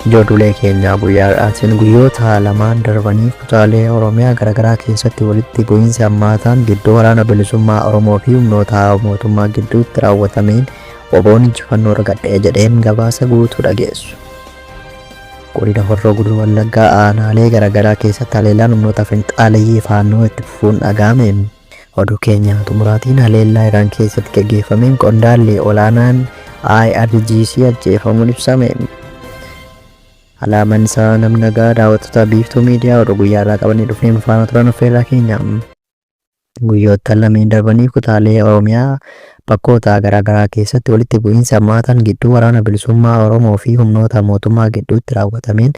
Ijoollee keenyaa guyyaa har'aatiin guyyoota lamaan darbanii kutaalee Oromiyaa garaagaraa keessatti walitti bu'iinsi hammaataan gidduu waraana bilisummaa Oromoo fi humnoota mootummaa gidduutti raawwatameen oboon injifannoo argadhee jedheen gabaasa guutuu dhageessu. Godina Horroo Guduruu Wallaggaa aanaalee garaagaraa keessatti haleellaan humnoota finxaaleyyii Faannoo itti fufuun dhaga'ame. Oduu keenya xumuraatiin haleellaa Iraan keessatti gaggeeffameen qondaalli olaanaan IRGC ajjeefamuun ibsame. Alaaman isaa namni nagaa daawwattoota biiftuu miidiyaa oduu guyyaa irraa qabannee dhufneen faana turan affeerraa keenya. Guyyoottan lameen darbaniif kutaalee Oromiyaa bakkoota garaagaraa keessatti walitti bu'iinsi hammaataan gidduu Waraana Bilisummaa Oromoo fi humnoota mootummaa gidduutti raawwatameen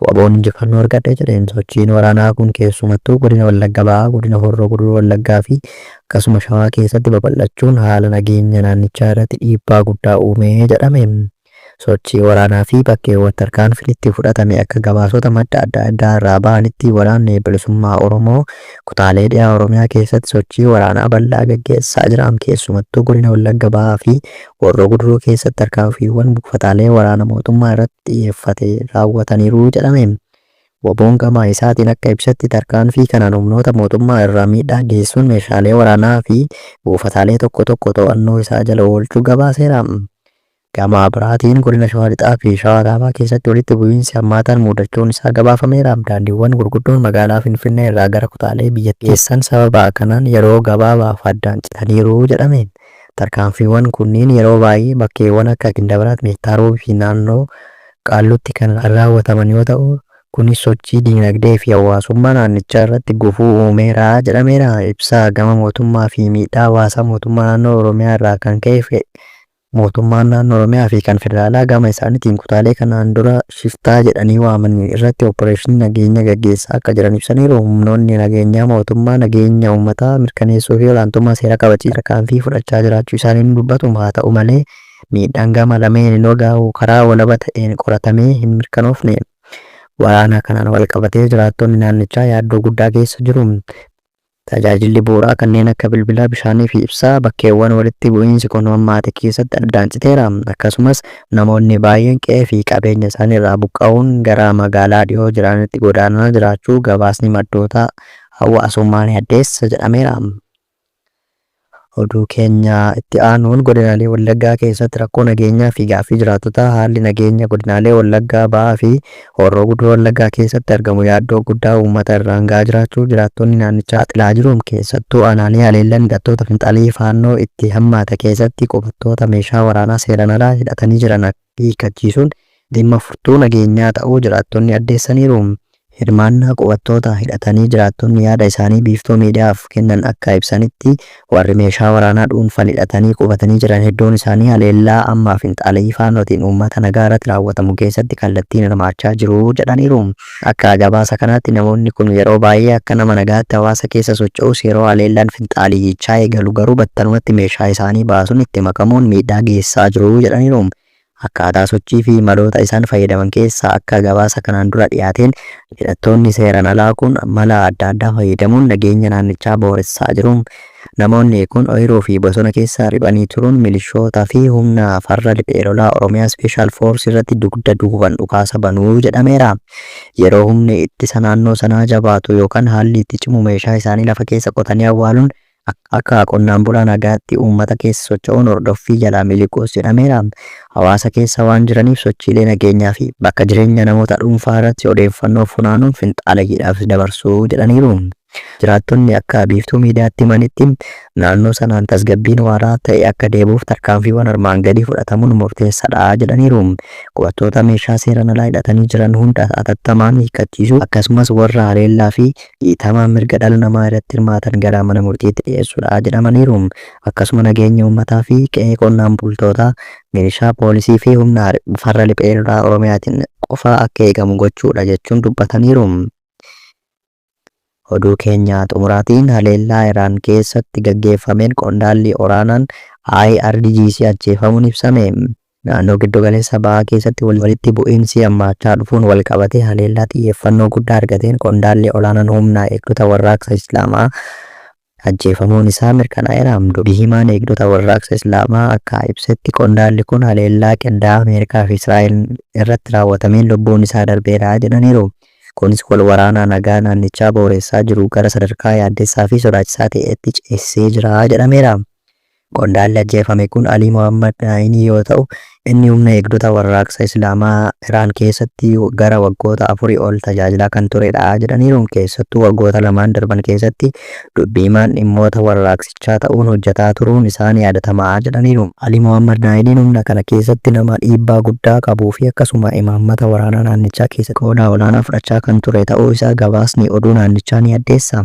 wbo'n injifannoo argadhe jedheen sochiin waraanaa kun keessumattuu Godina Wallagga Bahaa, Godina Horroo Guduruu Wallaggaa fi akkasuma Shawaa keessatti babal'achuun haala nageenya naannichaa irratti dhiibbaa guddaa uume jedhame. Sochii waraanaa fi bakkeewwan tarkaanfiin itti fudhatame akka gabaasota madda adda addaa irraa bahanitti Waraanni Bilisummaa Oromoo kutaalee dhiha Oromiyaa keessatti sochii waraanaa bal'aa gaggeessaa jiraam keessumattuu Godina Wallagga Bahaa fi Horroo Guduruu keessatti tarkaanfiiwwan buufataalee waraana mootummaa irratti xiyyeeffate raawwataniiru jedhame. Wboon gama isaatiin akka ibsetti tarkaanfii kanaan humnoota mootummaa irraa miidhaa geessuun meeshaalee waraanaa fi buufataalee tokko tokko to'annoo isaa jala oolchuu gabaaseera. Gama biraatiin Godina Shawaa Lixaa fi Shawaa Kaabaa keessatti walitti bu'iinsi hammaataan muudachuun isaa gabaafameera. Daandiiwwan gurguddoon magaalaa Finfinnee irraa gara kutaalee biyyattii geessan sababa kanaan yeroo gabaabaaf addaan citaniiru jedhame. Tarkaanfiiwwan kunniin yeroo baay'ee bakkeewwan akka Gindabiraat, Meettaa Roobii fi naannoo Qaalluutti kan raawwataman yoo ta'u, kunis sochii diinagdee fi hawaasummaa naannichaa irratti gufuu uumeera jedhameera. Ibsa gama mootummaa fi miidhaa hawaasaa mootummaa naannoo Oromiyaa irraa kan ka'e Mootummaan Naannoo Oromiyaa fi kan Federaalaa gama isaanitiin kutaalee kanaan dura shiftaa jedhanii waaman irratti oppireeshinii nageenya gaggeessaa akka jiran ibsaniiru. Humnoonni nageenyaa mootummaa nageenya uummataa mirkaneessuu fi olaantummaa seeraa kabachiisuuf tarkaanfii fudhachaa jiraachuu isaanii ni dubbatu. Haata'u malee, miidhaan gama lameeninuu gahu karaa walaba ta'een qoratamee hin mirkanoofne. Waraana kanaan walqabatee jiraattonni naannichaa yaaddoo guddaa keessa jiru. Tajaajilli bu'uuraa kanneen akka bilbilaa, bishaanii fi ibsaa bakkeewwan walitti bu'iinsi kun hammaate keessatti addaan citeera. Akkasumas namoonni baay'een qe'ee fi qabeenya isaanii irraa buqqa'uun gara magaalaa dhihoo jiraanitti godaanaa jiraachuu gabaasni maddoota hawwaasummaa ni addeessa jedhameera. Oduu keenya itti aanuun godinaalee Wallaggaa keessatti rakkoo nageenyaa fi gaaffii jiraattotaa haalli nageenya godinaalee Wallaggaa Bahaa fi Horroo Guduruu Wallaggaa keessatti argamu yaaddoo guddaa uummata irraan gahaa jiraachuu jiraattonni naannichaa saaxilaa jiru. Keessattuu aanaalee haleellan hidhattoota finxaaliyyi Faannoo itti hammaate keessatti qubattoota meeshaa waraanaa seeran alaa hidhatanii jiran akka. hiikkachiisuun dhimma furtuu nageenyaa ta'uu jiraattonni addeessaniiru. Hirmaannaa qubattoota hidhatanii jiraattonni yaada isaanii Biiftuu Miidiyaaf kennan akka ibsanitti, warri meeshaa waraanaa dhuunfan hidhatanii qubatanii jiran hedduun isaanii haleellaa amma Finxaaleyyii Faannootiin uummata nagaarratti raawwatamu keessatti kallattiin hirmaachaa jiru jedhaniiru. Akka gabaasa kanaatti namoonni kun yeroo baay'ee akka nama nagaatti hawaasa keessa socho'us yeroo haleellaan finxaaleyyichaa eegalu garuu battalumatti meeshaa isaanii baasuun itti makamuun miidhaa geessisaa jiru jedhaniiru. Akkaataa sochii fi maloota isaan fayyadaman keessaa akka gabaasa kanaan dura dhiyaateen hidhattoonni seeraan alaa kun mala adda addaa fayyadamuun nageenya naannichaa booressaa jiru. Namoonni kun oyiruu fi bosona keessa riphanii turuun milishoota fi humna farra riphee lolaa Oromiyaa Special Force irratti dugda duuban dhukaasa banu jedhameera. Yeroo humni ittisa naannoo sanaa jabaatu yookan haalli itti cimu meeshaa isaanii lafa keessa qotanii awwaaluun akka qonnaan bulaa nagaatti uummata keessa socho'uun hordoffii jalaa miliquus jedhameera. Hawaasa keessa waan jiraniif sochiilee nageenyaa fi bakka jireenya namoota dhuunfaa irratti odeeffannoo funaanuun finxaaleyyiidhaaf dabarsu jedhaniiru. Jiraattonni akka Biiftuu Miidiyaatti himanitti, naannoo sanaan tasgabbiin waaraa ta'e akka deebi'uuf tarkaanfiiwwan armaan gadii fudhatamuun murteessadha jedhaniiru. Qubattoota meeshaa seeraan alaa hidhatanii jiran hunda hatattamaan hiikkachiisuu, akkasumas warra haleellaa fi dhiitama mirga dhala namaa irratti hirmaatan gara mana murtiitti dhiyeessuudha jedhamaniiru. Akkasuma nageenya uummataa fi qe'ee qonnaan bultootaa milishaa, poolisii fi humna farra riphee lolaa Oromiyaatiin qofa akka eegamu gochuudha jechuun dubbataniiru. Oduu keenya xumuraatiin haleellaa Iraan keessatti gaggeeffameen qondaalli oraanaan IRGC ajjeefamuun ibsame. Naannoo Giddu Galeessa Bahaa keessatti walitti bu'iinsi hammaachaa dhufuun wal qabatee haleellaa xiyyeeffannoo guddaa argateen qondaalli olaanaan humna eegdota warraaqsa Islaamaa Ajjeefamuun isaa mirkanaa'eera. Dubi himaan Eegdota Warraaqsa Islaamaa akka ibsetti qondaalli kun haleellaa qindaa'aa Ameerikaa fi Israa'el irratti raawwatameen lubbuun isaa darbeera jedhaniiru. Kunis wal waraanaa nagaa naannichaa booreessaa jiru gara sadarkaa yaaddessaa fi sodaachisaa ta'etti ceesisee jira jedhameera. Qondaalli ajjeefame kun Alii Mohaammad Aayinii yoo ta'u, inni humna eegdota warraaqsa Islaamaa Iraan keessatti gara waggoota afurii ol tajaajilaa kan turedha jedhaniiru. Keessattuu waggoota lamaan darban keessatti dubbi himaan dhimmoota warraaqsichaa ta'uun hojjetaa turuun isaa ni yaadatama jedhaniiru. Alii Mohaammad Aayiniin humna kana keessatti nama dhiibbaa guddaa qabuu fi akkasuma imaammata waraanaa naannichaa keessatti qooda olaanaa fudhachaa kan ture ta'uu isaa gabaasni oduu naannichaa ni addeessa.